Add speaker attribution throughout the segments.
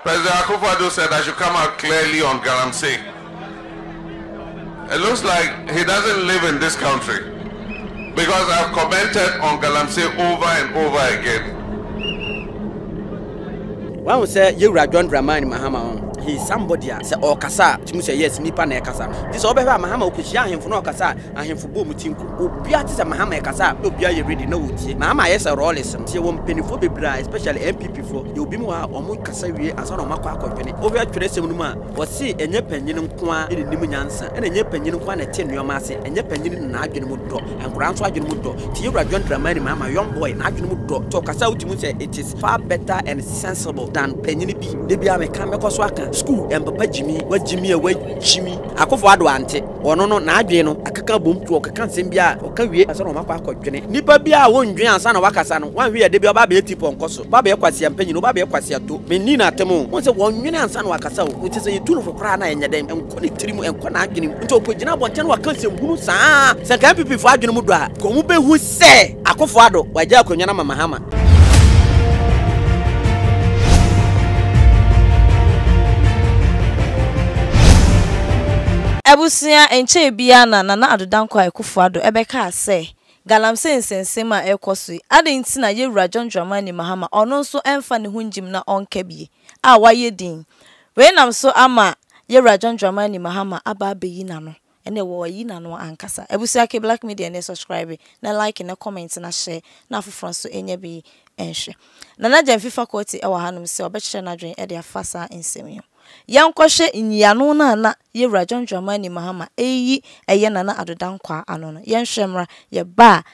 Speaker 1: President Akufo-Addo said I should come out clearly on Galamsey. It looks like he doesn't live in this country because I've commented on Galamsey over and over again. Wahu sɛ yɛwura John Dramani Mahama ho he is somebody a sɛ ɔkasa a tumi sɛ yes nipa na ɛkasa no nti sɛ ɔbɛhwɛ a Mahama ɔkɔhyia ahemfo na ɔkasa a Ahemfo bɔɔ mu tinku. Obiara te sɛ Mahama ɛkasa a na obiara yɛ ready na ɔretie. Mahama ayɛ sɛ Rawlings no. Nti yɛwɔ mpaninfoɔ bebree a especially NPP foɔ yɛwɔ binom wɔ ha a wɔn kasa wie ansa na wɔn akɔ akɔdwene. Wohwɛ twerɛsɛm no mu a wɔse ɛnyɛ panyin nko ara na ɛnim nyansa ɛna ɛnyɛ panyin nko ara na ɛte nnoɔma ase, ɛnyɛ panyin na n'adwene mu dɔ, nkwadaa nso adwene mu dɔ. Nti yɛwura John Dramani Mahama, young boy, n'adwene mu dɔ nti ɔkasa a wotumi hu sɛ it is far better and sensible than panyin bi. Da biara meka, mɛkɔ so aka, school ɛmpapa gyimii, wagyimii a wagyimii. Akufo Addo ante. Ɔno no, n'adwene no akeka abom nti ɔkeka nsɛm biara a, ɔka wie ansa na ɔma kɔ akɔdwene. Nnipa biara a wondwen ansa na wɔakasa no, woanhwɛ yɛ da bi ɔba abɛyɛ ti pɔnkɔ so, ɔba abɛyɛ kwasea mpanyin, ɔba abɛyɛ kwasea to. Menni no atɛm o. Wohu sɛ wɔnnwene ansa na wɔakasa o. Kyerɛ sɛ yetu no fo koraa no a, ɛnyɛ dɛn, ɛnkɔ ne tirim, ɛnkɔ n'adwene mu. Nti ɔkɔgyina abɔnten na waka nsɛmhunu saa. Sɛ anka NPP fo adwene mu dɔ a, anka wɔbɛhu. Sɛ Akufo Addo wagya akonwa no ama Mahama. Abusua, Ɛnkyɛe biara na Nana Addo Dankwa Akufo Addo bɛkaa sɛ, Galamsey nsɛnsɛm mu a ɛrekɔ so yi, adɛn nti na Yewura John Dramani Mahama ɔno nso ɛmfa ne ho ngyim na ɔnka bi a wayɛ din? Wei nam so ama Yewura John Dramani Mahama aba abɛyi n'ano. Ɛnɛ wɔ ayi nano ankasa. Abusua ke black media nɛ subscribe na like na comment na share na afoforɔ nso nyɛ bi nhwɛ. Nana Gyamfi faculty ɛwɔ hanom sɛ ɔbɛkyerɛ n'adwene de afa saa nsɛm yi ho. Yɛnkɔhwɛ nyiano no a na Yewura John Dramani Mahama ɛreyi ɛyɛ Nana Addo Dankwaa ano no. Yɛnhwɛ mmra. Yɛba a.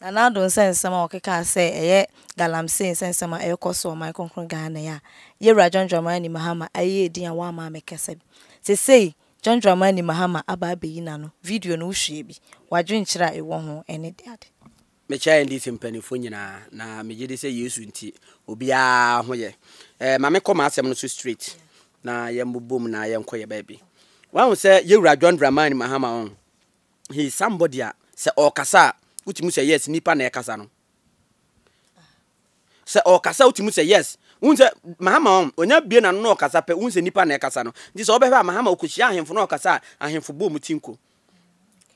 Speaker 1: Nana Addo nsɛnsɛm a ɔkekaa sɛ ɛyɛ galamsee nsɛnsɛm a ɛrekɔ so wɔ ɔman kronkron Ghana yi a Yawura John Dramani Mahama ayɛ edin a wamma ammɛkasa bi. Sesei John Dramani Mahama aba abɛyi n'ano, video no wohwɛɛ bi? W'adwenkyerɛ a ewɔ ho ɛne de ade? Mekyɛ NDC mpaninfoɔ nyinaa na megye di sɛ Yesu nti obiara ho yɛ. Ɛɛ ma me kɔ m'asɛm no so straight na yɛn bobom na yɛn kɔ yɛn baabi. Wahu sɛ Yawura John Dramani Mahama ɔn? he is somebody a sɛ ɔɔkasa a wotumi hu sɛ yes nipa na ɛkasa no. Sɛ ɔɔkasa wotumi hu sɛ yes wohu sɛ Mahama ɔn onya bie n'ano na ɔɔkasa pɛ wohu sɛ nipa na ɛkasa no nti sɛ wobɛhwɛ a Mahama okohyia ahemfo na ɔɔkasa a ahemfo bɔ ɔmo ti nko.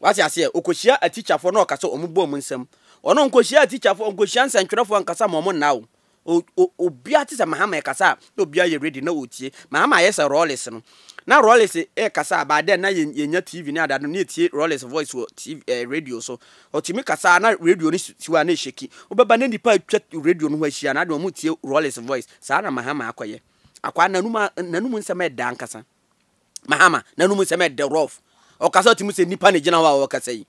Speaker 1: Wate aseɛ okohyia atikyafoɔ na ɔɔkasa ɔmo bɔ ɔmo nsam. Ɔno ɔnkohyia atikyafoɔ ɔnkohyia nsɛntwerɛfoɔ ankasa ma ɔmo nna o O o obiara te sɛ Mahama ɛkasa a na obiara yɛ ready na ɔretie. Mahama ayɛ sɛ Rawlings no. Na Rawlings rekasa a by then na yɛ yɛnya TV ne ade ade no na yɛtie Rawlings voice wɔ TV eh, radio so. Ɔtumi kasa a na radio no si hɔ a na ɛhyɛki. Wobɛba na nnipa atwa radio no ho ahyia na ade wɔretie Rawlings voice. Saa na Mahama akɔyɛ. Akwaa n'anum a n'anum nsɛm yɛ dɛ ankasa. Mahama n'anum nsɛm yɛ dɛ rough. Ɔkasa ɔtumi sɛ nnipa na ɛgyina hɔ a ɔrekasa yi.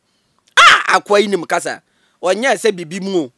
Speaker 1: Ah! Akwaa yi nim kasa. Ɔnyɛɛ sɛ biribi mu o.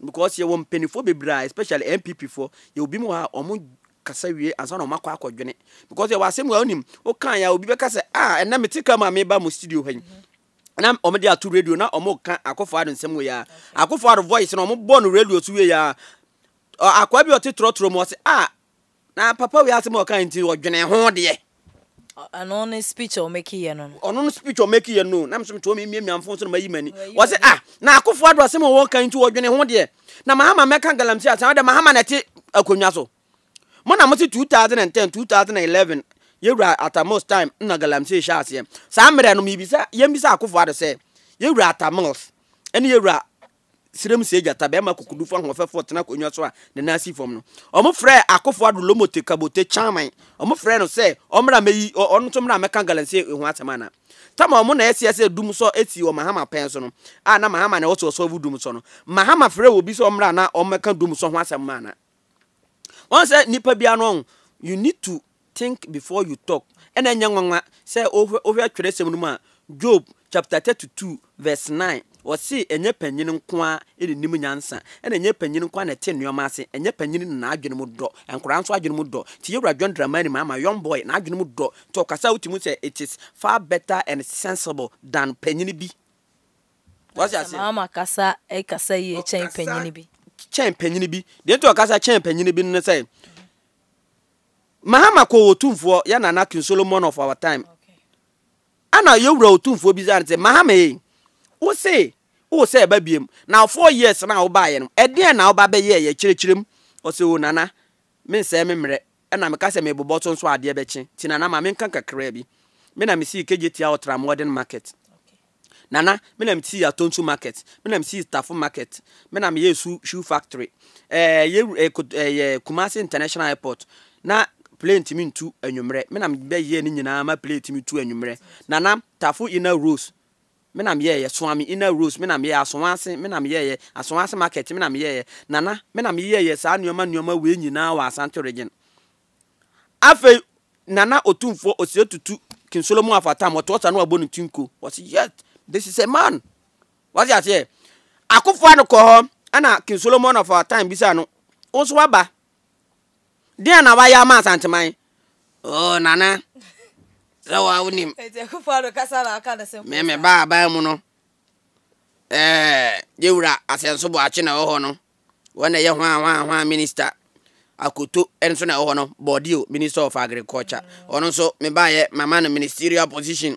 Speaker 1: Because yɛwɔ mpaninfoɔ bebree a especially NPP foɔ yɛwɔ binom wɔ ha a wɔn kasa wie ansa na wɔn akɔ akɔ dwene because yɛwɔ asɛm wɔ anim wokan ya obi bɛka sɛ ah ɛnna me te ka mu a meba mo studio hɔ yi na wɔn de ato radio na wɔn ka akɔfo ado nsɛm wɔ yɛ a akɔfo ado voice na wɔn bɔ no radio so wie yɛ a akɔa bi ɔte trɔtrɔ mu ɔsɛ ah Na papa wei asɛm a ɔkae nti no ɔdwenee ho deɛ. Ɛno ne speech a ɔmake yɛ no no. Ɔno no speech a ɔmake yɛ no. Na me nso mete hɔ memiamia mfon so na mayi m'ani. Wɔse ah na Akufo Addo asɛm a ɔkae nti ɔdwenee ho deɛ. Na Mahama mmɛka galamsey asɛm. Ɛdɛ Mahama na ɛte akonnwa so. Mo na mose 2010, 2011 Yɛwura Atta Mills time na galamsey hyɛɛ aseɛ. Saa mmerɛ no mebisa, yɛmmisa Akufo Addo sɛ, Yɛwura Atta Mills ne Yɛwura Serem Sei Gyata, barima kokodurufo ahoɔfɛfo a ɔtena akonnwa so a ne nan si fam no. Wɔfrɛɛ Akofo Addo Lomote Kabote Kyaman, wɔfrɛɛ no sɛ ɔmmra mmɛyi, ɔno nso mmra mmɛka Galamsey ho asɛm anaa? Tama wɔn na ɛseɛ sɛ dum sɔ sii wɔ Mahama pɛn so no, a na Mahama na ɛwɔ sɛ ɔsɔ agu dum sɔ no. Mahama frɛɛ obi sɛ ɔmmra na ɔmmɛka dum sɔ ho asɛm anaa? Wɔn sɛ nipa biara no ɔn you need to think before you talk ɛna ɛnyɛ nwanwa sɛ ohwɛ ohwɛ twerɛsɛm no mu a Job chapter thirty two verse nine wɔsi ɛnyɛ panyin nkoa ɛna nim nyansa ɛna ɛnyɛ panyin nkoa na ɛte nneɛma ase ɛnyɛ panyin na n'adwene mu dɔ nkora nso adwene mu dɔ ti yɛwura John Dramani ma ama young boy n'adwene mu dɔ nti ɔkasa a wotumi sɛ it is far better and sensible than panyin bi Wate aseɛ? Ɛma ama kasa kasa yie kyɛn panyini bi. Kyɛn panyini bi. Deɛ nti ɔkasa kyɛn panyini bi no sɛ, Mahama kɔ wɔ tumfoɔ yɛ nana King Solomon of our time. Ɛna yɛwura otumfoɔ bi sɛ, Mahama ei, wo se, wo sɛ ɛba biem, na four years na wobaeɛ no, ɛdeɛn na woba bɛyɛɛ yɛ kyerɛkyerɛm? Ɔsɛ o nana, mensɛe me mmerɛ. Ɛna me ka sɛ me bobɔ so nso adeɛ bɛkye nti Nana ma me nka kakraa bi. Me na me sii Kegyetia Ultra Modern Market. Nana, me na me sii Atonsu Market, me na me sii Stafo Market, me na me yɛɛ su shoe factory, ɛɛ yɛ ɛɛ kot ɛɛ Kumasi International Airport na plane tumi ntu anwummerɛ, me na me bɛ yɛɛ ne nyinaa ma plane tumi tu anwummerɛ. Nana, Tafo Inner Rose. me na meyɛeɛ, Suame Inner Rose, me na meyɛeɛ, Asoase, me na meyɛeɛ, Asoase Market, me na meyɛeɛ, Nana, me na meyɛeɛ saa nnoɔma nnoɔma wei nyinaa wɔ Asante Region. Afei Nana Otumfoɔ Osei Tutu King Solomon of Atam ɔtoɔ saa na wabɔ ne ti nko, wɔse yes, this is a man. Wate aseɛ? Akufo-Addo kɔɔ hɔ ɛna King Solomon of our time bisaa no, wo nso waba? Deɛ na wayɛ ama Asanteman? Oh, Nana, sɛ wa wonim. Me me ba aban mu no, eh, yɛwura asɛnso boakye na ɛwɔ hɔ no. Wɔn na ɛyɛ hwan hwan hwan minister. Akoto nso na ɛwɔ hɔ no, Bordio, minister of agriculture. Ɔno nso, me baayɛ, mama no ministerial position.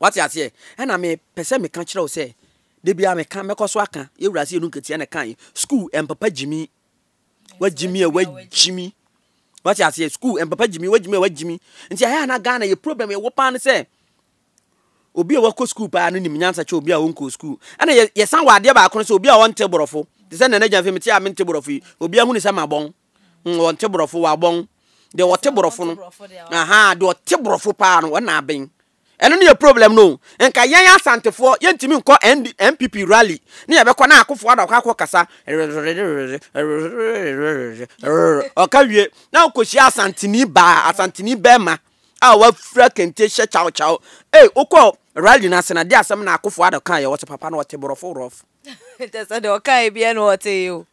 Speaker 1: Wate aseɛ? Ɛna me pɛ sɛ meka kyerɛ wo sɛ, da biara meka, mɛkɔ so aka, yɛ wura se yɛ no nketia na ɛka yi, school ɛmpapa gyimi, wagyimi a wagyimi, wate aseɛ, school ɛmpapa gyimi, wagyimi a wagyimi, nti ɛhɛ na Ghana yɛ problem yɛwɔ paa no sɛ, obi a wakɔ school paa no nim nyansa kyɛ obi a ɔnkɔ school, ɛna yɛsan wɔ adeɛ baako no sɛ obi a ɔnte borɔfo, te sɛ nana gyanfe mete a mente borɔfo yi, obi ahunu sɛ mabɔn, Mm, wɔnte borɔfo wɔ abɔn. Deɛ wɔte borɔfo no. Aha, deɛ ɔte borɔfo paa no, wɔn na abɛn. ɛno ne yɛ problem no nka yɛn asantefoɔ yɛntumi nkɔ npp rally ne yɛbɛkɔ na akofoɔ ada ɔkɔ akɔ kasa ɔka wie na ɔkɔhyia asanteni baa asanteni bɛrima a wafira kente hyɛ kyawkyaw ei wokɔ rally no ase na de asɛm na akofoɔ ada kaa yɛ wɔ sɛ papa no ɔte borɔfo rɔf nkyɛ sɛ deɛ ɔkae biɛ na ɔtee o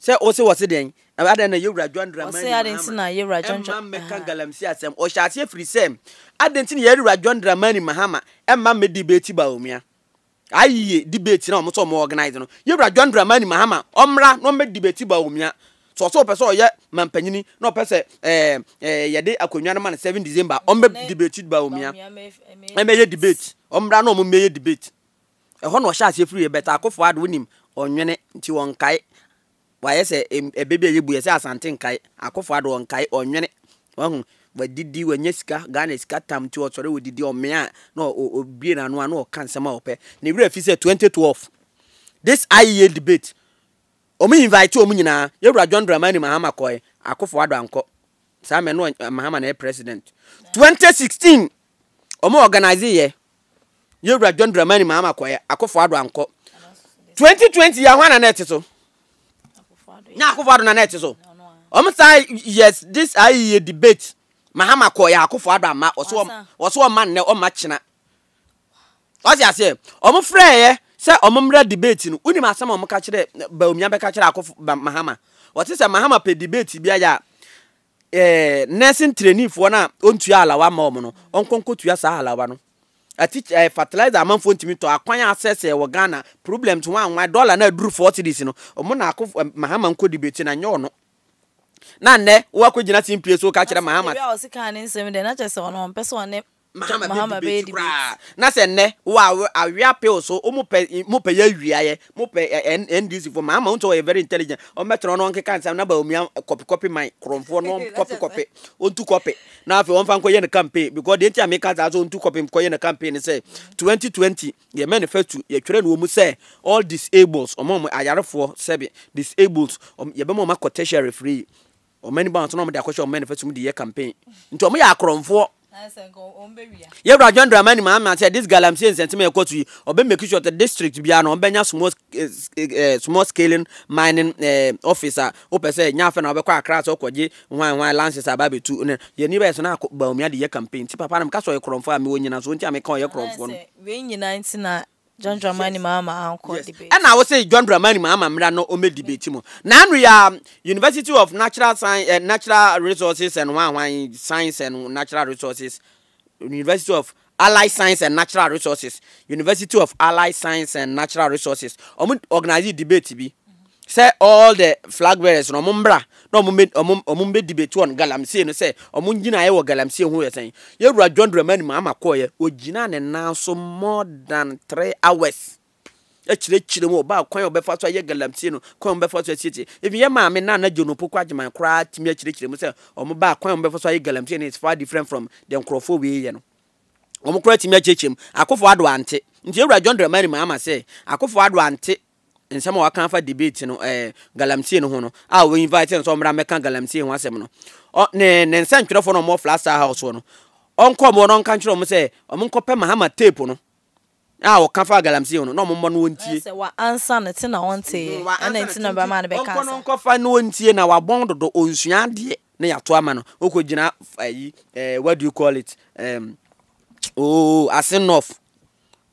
Speaker 1: Sɛ wo se wɔse dɛn? Adɛn na Yewura John Dramani Mahama Wɔse adɛn nti na Yewura John Dramani Ɛmma mmɛka galamsey asɛm. Ɔhyɛ aseɛ firi sɛ, Adɛn nti na Yewura John Dramani Mahama ɛmma mmɛ debate Bawumia? Ayie debate na wɔn sɛ wɔn organize no. Yewura John Dramani Mahama ɔmmra na ɔmmɛ debate Bawumia. Sɛ ɔsɛ ɔpɛ sɛ ɔyɛ mampanyini na ɔpɛ sɛ ɛɛ ɛɛ yɛde akonnwa no ma no 7 December ɔmmɛ debate Bawumia. Ɛmɛyɛ debate. Ɔmmra na wɔn mmɛyɛ debate. Ɛhɔ na ɔhyɛ aseɛ firiiɛ but Akofo Addo wonim ɔnwene nti ɔnkae wayɛ sɛ ɛbɛ bi a yɛbu yɛ sɛ Asante nkae Akofo Addo ɔnkae ɔnwene wahu wadidi wanya sika Ghana sika tam nti ɔsɔre ɔdidi ɔmea a na ɔbue n'ano a na ɔka nsɛm a ɔpɛ ne werɛ fi sɛ 2012 this IEA debate wɔn invite wɔn nyinaa yɛwura John Dramani Mahama kɔɛ Akofo Addo ankɔ saa mɛ no Mahama na yɛ president 2016 wɔn organize yɛ yɛ wura john dramani mahama kɔɛ akofo ado ankɔ 2020 yɛ hɔ na na ɛte so na akofo ado na na ɛte so wɔn saa yes this ayi yɛ debate mahama kɔɛ akofo ado ama wɔso wɔn wɔso wɔn ma nnɛ wɔn ma kyena wɔsi aseɛ wɔn frɛ yɛ sɛ wɔn mmra debate no wunim asɛm wɔn ka kyerɛ baumia bɛka kyerɛ akofo mahama wɔte sɛ mahama pɛ debate bi ayɛ a eh, nursing trainee foɔ no a ɔntua halawa ma wɔn no ɔnkɔ nkɔtua saa halawa no atikyi eh, fertilizer amanfoɔ ntumi tɔ akwan asɛsɛɛ wɔ Ghana problems ho anwan dɔla no aduru four cities no wɔn na akɔ eh, Mahama nkɔ debate na nyɛ ɔno na nnɛ woakɔgyina simpie so ka kyerɛ Mahama. Baabi a ɔsi kaa ne nsɛm dɛ na kyerɛ sɛ ɔno ɔmpɛ sɛ ɔne Mahama bɛ Mahama bɛyɛ debate koraa debate. na sɛ nnɛ wo a wo awe appeal so wɔn pɛ mo pɛ yɛ awiaeɛ mo pɛ ɛ- N- NDC fo Mahama wɔn sɛ wɔyɛ very intelligent wɔn bɛtena hɔ na wɔn keka nsɛm na Bawumia kɔpi kɔpi man korɔmfoɔ na wɔn kɔpi kɔpi wɔn tu kɔpi na afei wɔn fa nkɔ yɛ ne campaign because deɛ nti a meka saa sɛ wɔn tu kɔpi nkɔ yɛ ne campaign ne sɛ 2020 yɛ manifesto yɛtwerɛ no wɔ mu sɛ all disables wɔn a wɔn ayarefoɔ sɛbi disables wɔn yɛbɛma wɔn akɔ tertiary free Ɔman bi a wɔn na wɔde akɔhyɛ ɔman afasu mu de yɛ campaign. Nti wɔyɛ akorɔmfoɔ. Yɛwura John Dramani Mahama sɛ this galamsey nsɛnsɛm a ɛkɔ so yi, ɔbɛ make sure that district biara no ɔbɛnya small eh, eh, eh, small scaling mining eh, office a wopɛ sɛ nya afɛ na wobɛkɔ akra sɛ ɔkɔgye hwan hwan lances a bɛabɛtu ne yɛni bɛyɛ so na Bawumia de yɛ campaign nti papa no meka sɛ ɔyɛ korɔmfoɔ a mewɔ nyina so nti a meka ɔyɛ korɔmfoɔ no. Wei nyina nti na John Dramani Mahama ankɔ debate. Ɛna wo se John Dramani Mahama mmra na ɔmmɛ debate mu. Na ano yi ara University of Natural Science eh, Natural Resources and Hwan Hwan Science and Natural Resources University of Allied Science and Natural Resources University of Allied Science and Natural Resources ɔmo organize debate bi. Sɛ all the flag bearers no ɔmo mbra na ɔmo mbɛ ɔmo ɔmo mbɛ debate wɔn galamsey no sɛ ɔmo ngyinaeɛ wɔ galamsey ho yɛ sɛn? Yɛwura John Dramani Mahama kɔɔyɛ ɔgyinaa ne nan so more than three hours ɛkyerɛkyerɛ mu ɔbaa kwan a ɔbɛfa so ayɛ galamsey no kwan a ɔbɛfa so asiesie even yɛ maame Nana John Opoku Agyeman koraa tumi akyerɛkyerɛ mu sɛ ɔmo baa kwan a ɔmo bɛfa so ayɛ galamsey no is far different from the nkorɔfoɔ wei yɛ no wɔn koraa tumi akyerɛkyerɛ mu Akufo Addo ante nti yɛwura John Dramani Mahama sɛ Akufo Addo ante nsɛm a waka afa debate no ɛɛ galamsey no ho no a wɔ invite no sɛ ɔmmra mmɛka galamsey ho asɛm no ɔ ne ne nsɛntwerɛfoɔ no ɔmɔ fla star house no ɔnkɔ ɔmɔ no ɔnka nkyerɛ ɔmo sɛ ɔmo nkɔpɛ mahama tape no a ɔka fa galamsey ho no na ɔmo mmɔ no wɔntie sɛ wa ansa no te na ɔnteeɛ mm, ɛna nti na bɛma no bɛka ɔnkɔ no nkɔfa no ɔntie na wabɔn dodo ɔnsua adeɛ na yɛato ama no ɔkɔ gyina ayi eh, what do you call it um, oh, asenɔf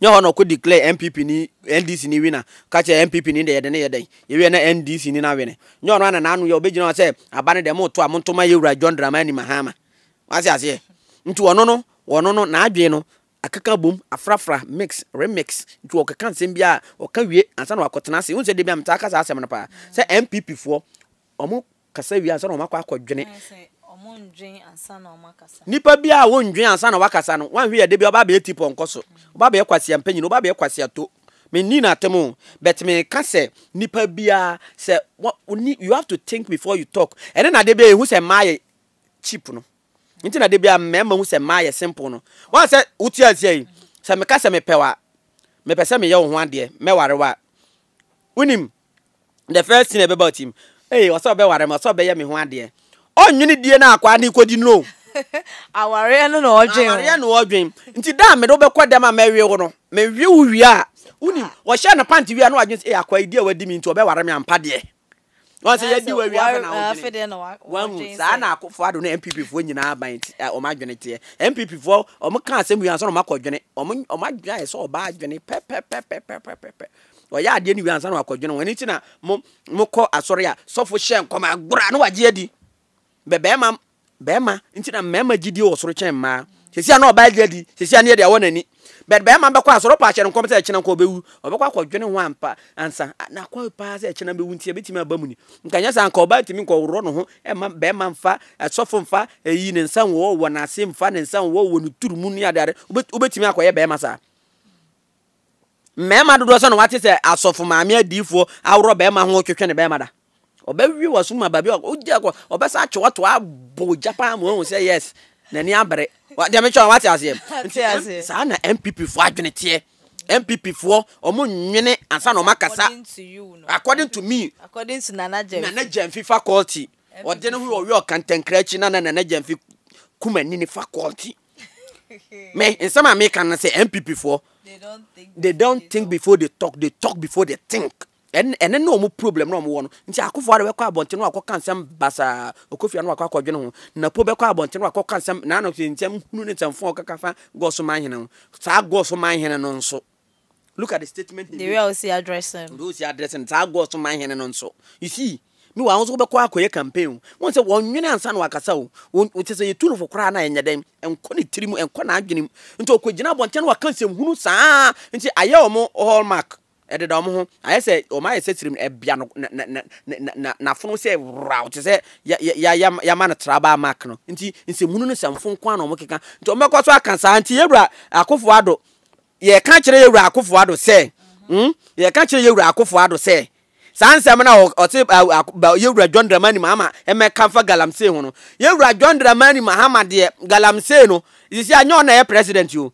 Speaker 1: Nyɛ hɔ na ɔkɔ declare NPP ni NDC ni winner ka kyerɛ NPP ni dɛ yɛde no yɛ dɛn, yɛwie na NDC ni no awene. Nyɛ ɔno ara na n'ano yɛ, ɔbɛgyina hɔ sɛ aba no deɛ moto a monto ma yɛwura John Dramani Mahama. Wate aseɛ? Nti ɔno no, ɔno no, n'adwene no akeka abom, afrafra, mix, remix, nti ɔkeka nsɛm biara a, ɔka wie ansa na wakɔtena ase. Wohu sɛ da biara metaa ka saa asɛm no paa sɛ NPP foɔ, wɔn kasa wie ansa na wɔakɔ akɔdwene. Nnipa bi a wɔndwen ansa na wɔakasa no, woanhwɛ yɛ da bi a wɔba abɛyɛ tipɔnkɔ so, wɔba abɛyɛ kwasea mpanyin, wɔba abɛyɛ kwasea to. Menni no atem o, but meka sɛ nnipa biara sɛ you have to think before you talk. Ɛne na da bi a yɛhu sɛ mmaa yɛ cheap no. Nti na da bi a mmarima hu sɛ mmaa yɛ simple no. Wɔn sɛ wote aseɛ yi, sɛ meka sɛ mepɛ wa, mepɛ sɛ meyɛ wo ho adeɛ, mɛware wa. Wonim? the first thing ɛbɛba ɔtim ee ɔsɛ ɔbɛware me ɔsɛ ɔbɛyɛ me ho adeɛ ɔnwene die no akwaa ne kɔdi no awareɛ no na ɔdwen awareɛ na ɔdwen nti da a mede wobɛkɔ dɛm a mɛwe wo no mewe wo wie a wonim wɔhyɛ no pante wie a na wadwen sɛ ee akwaa yi di a wadi me nti ɔbɛware me ampa deɛ wɔn sɛ yɛdi wɔ wie afɛ na ɔdwene wɔn saa na akofo ado ne npp foɔ nyinaa aban ti wɔn adwene teɛ npp foɔ wɔn ka asɛm wie ansa na wɔn akɔ dwene wɔn wɔn adwene ayɛ sɛ ɔbaa adwene pɛpɛpɛpɛpɛpɛ Ɔyɛ adeɛ no wie ansa na wakɔdwene ho. Ɛno nti na mo mokɔ asɔre a sɔfo hyɛ nkɔm a gora na wagye adi. Bɛ bɛrima bɛrima nti na mmarima gyidie wɔ soro kyɛn mmaa. Sɛsi a na ɔbaa gye adi, sɛsi a ne yɛde awɔ n'ani. Bɛt bɛrima bɛkɔ asɔre ɔpɔ ahyɛ no nkɔm sɛ ɛkyena nkɔ ɔbɛwu. Ɔbɛkɔ akɔdwene ho ampa ansa. Nakɔ paa sɛ ɛkyena bɛwu nti ɛbɛtumi aba mu ni. Nka nyɛ saa nka ɔbaa tumi nkɔ worɔ no ho ɛma bɛrima mfa sɔfo mfa ɛyi ne nsa wɔ wɔ n'ase mfa ne nsa wɔ wɔ ne turu mu ne adeade. Wobɛtumi akɔyɛ bɛrima saa. Mmarima dodoɔ sɛ na wate sɛ asɔfo maame adiifoɔ aworɔ barima ho twetwe ne barima da. Ɔbɛwie wɔ so ma baabi a wogya kɔ ɔbɛsa atwe wato abɔ ogya paa ma wahu sɛ yes n'ani abere. Deɛ metwa wate aseɛ. Nti saa na MPP foɔ adwene teɛ. MPP foɔ ɔmo nwene ansa na ɔmo akasa. According to me. According to Nana Gyamfi. Nana Gyamfi faculty. Ɔde ne ho ɔwɛ ɔkantɛnkra akyi na na Nana Gyamfi kumanini faculty. me nsɛm a meka no sɛ npp foɔ they don't think before they talk they talk before they think ɛne ne ɔmo problem na ɔmo wɔ no nti akofo ara bɛkɔ abɔnten no akɔka nsɛm basaa ɔkofia no wakɔ akɔdwene ho na po bɛkɔ abɔnten no akɔka nsɛm na ano nsɛm hunu ne nsɛm fɔn ɔkaka fa gɔso man hene ho saa gɔso man hene no nso Look at the statement he made. The way a osi address no. The way osi address no, saa August man hene no nso. You see, mi wa ahosuo bɛkɔ akɔyɛ campaign o. Wɔn sɛ wɔn nwene ansa na wakasa o. Wɔn kyɛ sɛ yɛ tulufo koraa na ɛnyɛ dɛn. Ɛnkɔ ne tiri mu, ɛnkɔ n'adwene mu. Nti ɔkɔ gyina abɔnten na waka nsɛm hunu saa. Nti ayɛ wɔn hallmark. Ɛdeda wɔn ho. Ayɛ sɛ wɔn ayɛ sɛ sirim ɛbea no na na na na na n'afono sɛ raw te sɛ ya ya ya ya yama no traba mark no. Nti nsɛm hunu ne nsɛmfo nko ara na wɔn keka. Nti wɔn bɛkɔ so aka saa. Nti yɛwura akofo ado yɛka kyerɛ yɛ wura akofo ado sɛ hmm yɛka kyerɛ yɛ wura akofo ado sɛ saa nsɛm na ɔte yɛ wura john dramani mahama ɛmɛka fa galamsey ho no yɛ wura john dramani mahama deɛ galamsey no sisi anyɛ ɔna yɛ president o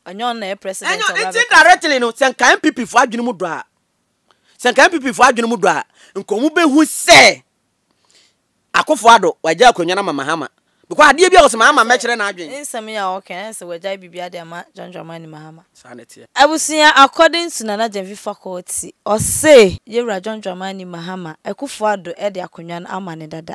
Speaker 1: ɛnyɛ ɔna yɛ president ɛnyɛ ɔna ti directly no sɛ nka npp fo adwene mu dɔ a sɛ nka npp fo adwene mu dɔ a nka wɔn bɛhu sɛ Akufo Addo, wagyae akonnwa no ama Mahama because adeɛ bi a ɔse Mahama mmɛkyerɛ n'adwen. Nsɛm yi a ɔka yi ayɛ sɛ wagyae biribiara de ama John Dramani Mahama. Saa na ɛteɛ. Abusua According to Nana Gyamfi Faculty, ɔse Yewura John Dramani Mahama, Akufo Addo de akonnwa no ama no dada.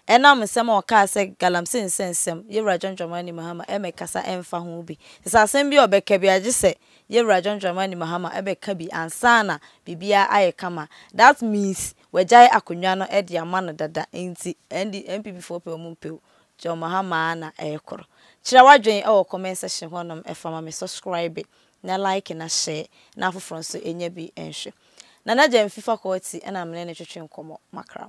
Speaker 1: Ɛnam nsɛm a ɔkaa sɛ Galamsey nsɛnsɛm, Yewura John Dramani Mahama mmɛkasa mmfa ho bi. Te sɛ asɛm bi a ɔbɛka biara gye sɛ Yewura John Dramani Mahama bɛka bi ansa na biribiara ayɛ kama. That means Wagyae akonwa no de ama no dada nti ɛnde NPP foɔ pɛ ɔmo mpɛ o John Mahama ara na ɛrekɔr. Kyerɛ w'adwen wɔ comment section hɔ nom fa ma me subscribe na like na share na afoforɔ nso nyɛ bi nhwɛ. Nana Gyamfi faculty na mene no twetwe nkɔmmɔ makram.